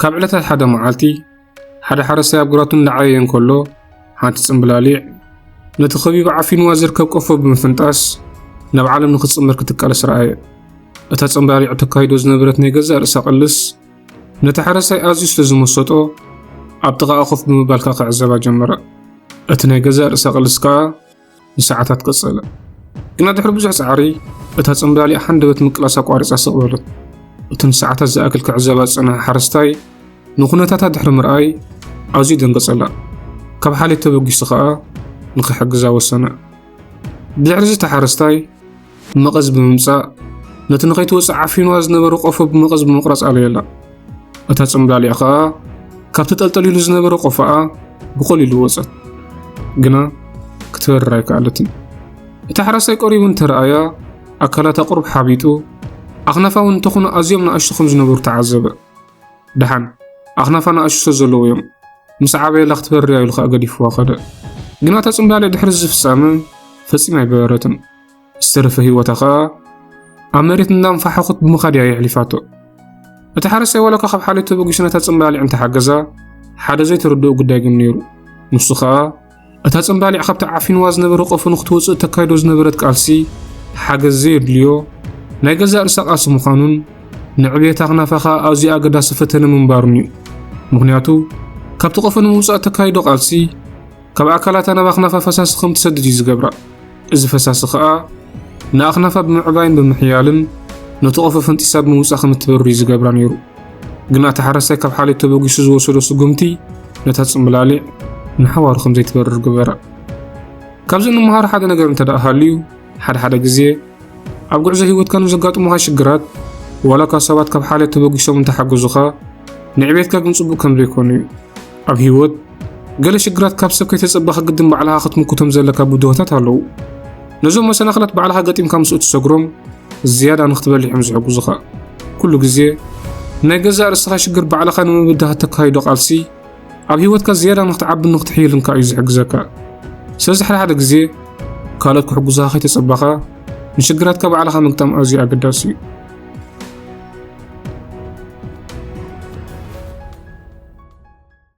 ካብ ዕለታት ሓደ መዓልቲ ሓደ ሓረስታይ ኣብ ግራቱ እናዓየየ እንከሎ ሓንቲ ጽምብላሊዕ ነቲ ከቢቡ ዓፊንዋ ዝርከብ ቆፎ ብምፍንጣስ ናብ ዓለም ንክትጽምር ክትቃለስ ረኣየ። እታ ጽምብላሊዕ ተካይዶ ዝነበረት ናይ ገዛእ ርእሳ ቅልስ ነቲ ሓረስታይ ኣዝዩ ስለ ዝመሰጦ ኣብ ጥቓኣ ኮፍ ብምባል ከኣ ክዕዘባ ጀመረ። እቲ ናይ ገዛእ ርእሳ ቅልስ ከኣ ንሰዓታት ቀጸለ። ግና ድሕሪ ብዙሕ ጻዕሪ እታ ጽምብላሊኣ ሃንደበት ምቅላስ ኣቋሪጻ ስቕ በለት። እቲ ንሰዓታት ዝኣክል ክዕዘባ ዝጸንሐ ሓረስታይ ንኩነታታ ድሕሪ ምርኣይ ኣዝዩ ደንገጸላ። ካብ ሓልዮት ተበጊሱ ከኣ ንኽሕግዛ ወሰነ። ብድሕሪ እዚ እቲ ሓረስታይ መቐዝ ብምምጻእ ነቲ ንኸይትወጽእ ዓፊኑዋ ዝነበረ ቆፎ ብመቐዝ ብምቕራጽ ኣለየላ። እታ ጽምብላሊዕ ኸኣ ካብ ተጠልጠሊሉ ዝነበረ ቆፎኣ ብቐሊሉ ወጸት። ግና ክትበርር ኣይከኣለትን። እቲ ሓራሳይ ቀሪቡ እንተረኣያ ኣካላታ ቁርብ ሓቢጡ ኣኽናፋ እውን እንተኾነ ኣዝዮም ንኣሽቱ ከም ዝነበሩ ተዓዘበ። ደሓን ኣኽናፋ ንኣሽቱ ስለ ዘለዉ እዮም ምስ ዓበየላ ክትበርር እያ ኢሉ ኸኣ ገዲፍዋ ኸደ። ግና እታ ጽምብላሊዕ ድሕሪ እዚ ፍጻመ ፈጺማ ኣይበረረትን። ዝተረፈ ህይወታ ከኣ ኣብ መሬት እናንፋሕኹት ብምኻድ እያ የሕሊፋቶ። እቲ ሓረስታይ ዋላኳ ካብ ሓልዮት ተበጊሱ ነታ ጽምባሊዕ እንተሓገዛ ሓደ ዘይተረድኦ ጉዳይ ግን ነይሩ። ንሱ ከኣ እታ ጽምባሊዕ ካብቲ ዓፊንዋ ዝነበረ ቆፎ ንክትወጽእ እተካይዶ ዝነበረት ቃልሲ ሓገዝ ዘየድልዮ ናይ ገዛእ ርእሳ ቃልሲ ምዃኑን ንዕብየታ ክናፋ ከኣ ኣዝዩ ኣገዳሲ ፈተነ ምንባሩን እዩ። ምክንያቱ ካብቲ ቆፎ ንምውጻእ እተካይዶ ቃልሲ ካብ ኣካላታ ናብ ኣኽናፋ ፈሳሲ ከም ትሰድድ እዩ ዝገብራ። እዚ ፈሳሲ ከኣ ንኣኽናፋ ብምዕባይን ብምሕያልን ነቲ ቆፎ ፈንጢሳ ብምውጻእ ከም እትበርር እዩ ዝገብራ ነይሩ። ግና እቲ ሓረስታይ ካብ ሓልዮት ተበጊሱ ዝወሰዶ ስጉምቲ ነታ ጽምብላሊዕ ንሓዋሩ ከም ዘይትበርር ግበራ። ካብዚ እንመሃሮ ሓደ ነገር እንተ ደኣ ሃልዩ ሓደ ሓደ ግዜ ኣብ ጉዕዞ ህይወትካ ንዘጋጥሙኻ ሽግራት ዋላ እኳ ሰባት ካብ ሓልዮት ተበጊሶም እንተሓገዙኻ ንዕቤትካ ግን ጽቡቕ ከም ዘይኮኑ እዩ። ኣብ ህይወት፣ ገለ ሽግራት ካብ ሰብ ከይተጸበኻ ግድን ባዕልኻ ክትምክቶም ዘለካ ብድሆታት ኣለዉ። ነዞም መሰናኽላት ባዕልኻ ገጢምካ ምስ እትሰግሮም፣ ዝያዳ ንክትበልሕ እዮም ዝሕግዙኻ። ኩሉ ግዜ፣ ንናይ ገዛእ ርእስኻ ሽግር ባዕልኻ ንምብዳህ እተካይዶ ቃልሲ፣ ኣብ ህይወትካ ዝያዳ ንክትዓብን ንክትሕይልን ከኣ እዩ ዝሕግዘካ። ስለዚ ሓደ ሓደ ግዜ፣ ካልኦት ክሕግዙኻ ከይተጸበኻ፣ ንሽግራትካ ባዕልኻ ምግጣም ኣዝዩ ኣገዳሲ እዩ።